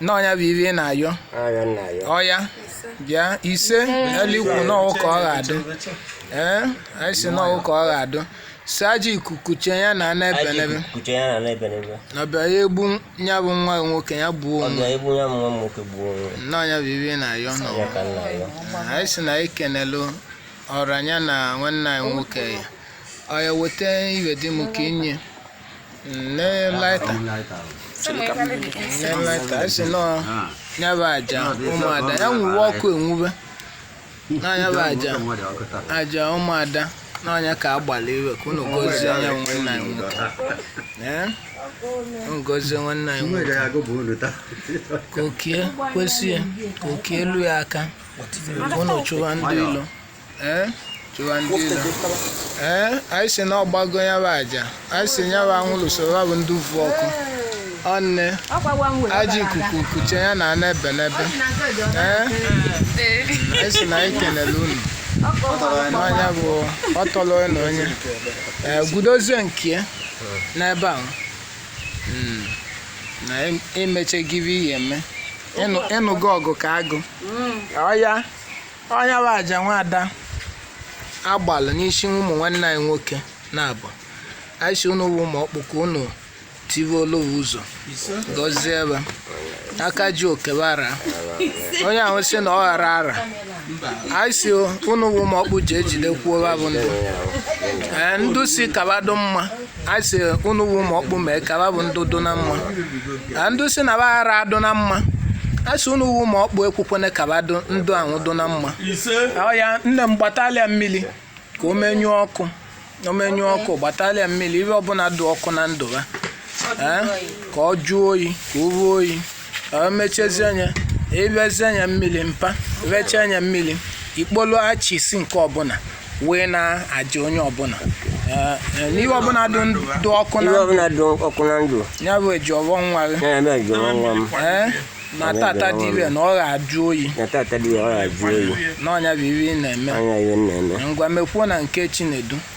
na ọnya bụ ive ị na-ayọ ọya nna ya ọya bịa ise elikwu n'ọwụ ka ọ ga-adụ ee anyị si n'ọwụ ka ọ ga-adụ si ajọ ikuku chee ya na ana ebe n'ebe kuche ya na n'ebe n'ebe na ọbịa ya egbu ya bụ nwa gị nwoke ya gbuo onwe bịa egbu ya nwa m nwoke gbuo onwe ya. na ọnya bụ ive ị na-ayọ n'ọwụ ya ka nna ya anyị si na anyị kenelu ọranya na nwanne anyị nwoke ya ọya weta ive dị m ka i nye Nne laịta. Nne laịta. A sị nọ ya bụ aja ụmụada. Ya nwuwe ọkụ enwube. Na ya bụ aja. Aja ụmụada. Na ọnya ka agbalụ ive ka unu gozie ya nwanne anyị nwoke. Ee? Unu gozie nwanne anyị nwoke. Ka oke ya kwesị ya. Ka oke ya lue ya aka. Ka unu chụwa ndị ilo. ee chụwa ndị ilo ee anyị si na ọ gbago ya bụ aja anyị si ya bụ anwụrụ soro ya bụ ndị uvu ọkụ ọnne ajọ ikuku kuche ya na ana ebe n'ebe ee anyị si na anyị kenele unu n'anya bụ ọ tọrọ onye na onye ee gudozie nke ya n'ebe ahụ Mm. na em- emeche gị bụ ihe eme Ịnụ- ị nụgo ọgụ ka agụ ọya ọnya bụ aja nwaada agbalụ n'isi ụmụ nwanne anyị nwoke na-abụ anyị si unu wụ ụmụ ọkpụ ka unu tiwe olowu ụzọ gọzie ebe aka ji oke ba ara onye ahụ si na ọ ghara ara anyị si unu wụ ụmụ ọkpụ ji ejidekwuo ba bụ ndụ ee ndụ si ka ba dụ mma a sị unu wụ ụmụ ọkpụ mee ka ba bụ ndị dụ na mma na ndị si na ba ara adụ na mma a sị unu wụ ụmụ ọkpụ ekwukwene ka ba dụ ndụ ahụ dụ na mma ọya nne m gbatalị ya mmiri ka o menyụọ ọkụ o menyụọ ọkụ gbatalị ya mmiri ihe ọbụla dụ ọkụ na ndụ ha ee, ka ọ jụọ oyi ka o ruo oyi o mechezie anya ebezie anya mmiri mpa rechaa anya mmiri ikpolu achisi nke ọbụla wee na-aja onye ọbụla Eh, eh, n'ihe ọbụla dị ndụ dị ọkụ na Ive ndụ ọbụla dị ọkụ na ndụ ya bụ Ejiọfọ nwa gị ya Ejiọfọ nwa m Eh, na tata dị ire na ọ ga-ajụ oyi na tata dị ya ọ ga-ajụ oyi n'ọnya bụ ihe ị na-eme ọnya ihe m na-eme ngwa mekwuo na nke Chinedu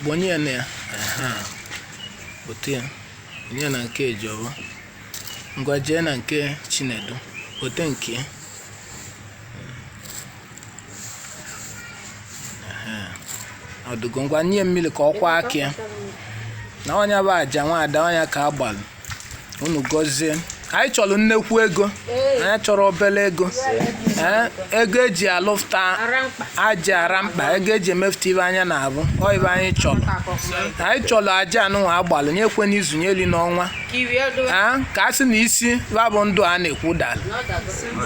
kpọnye ya na ya otu ya onye na nke Ejiọfọ ngwa jee na nke Chinedu wote nke ya ọ dụgo ngwa nye mmiri ka ọ kwọọ aka ya na ọnya bụ aja nwaada ọnya ka agbalụ unu gọzie anyị chọrọ nnekwu ego anyị chọrọ obere ego ee ego eji alụfta aja ara mkpa ego eji emefụta ibe anya na-abụ ọ ibe anyị chọrọ anyị chọrọ aja anụnwa agbalụ nye ekwe n'izu nye eri n'ọnwa ee ka a sị na isi babụ ndụ a na-ekwu dara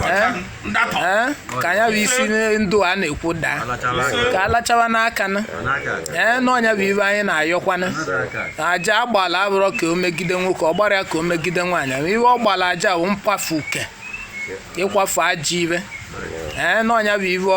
ee ee ka ya bụ isi ndụ a na-ekwu daa ka alachawa n'aka na ee n'ọ nya bụ ibe anyị na-ayọkwana aja agbala abụrọ ka o megide nwoke ọ gbarọ ya ka o megide nwaanyị ibe ọ gbara aja bụ mkwafu uke ịkwafu ajọ ibe ee n'ọ nya bụ ibe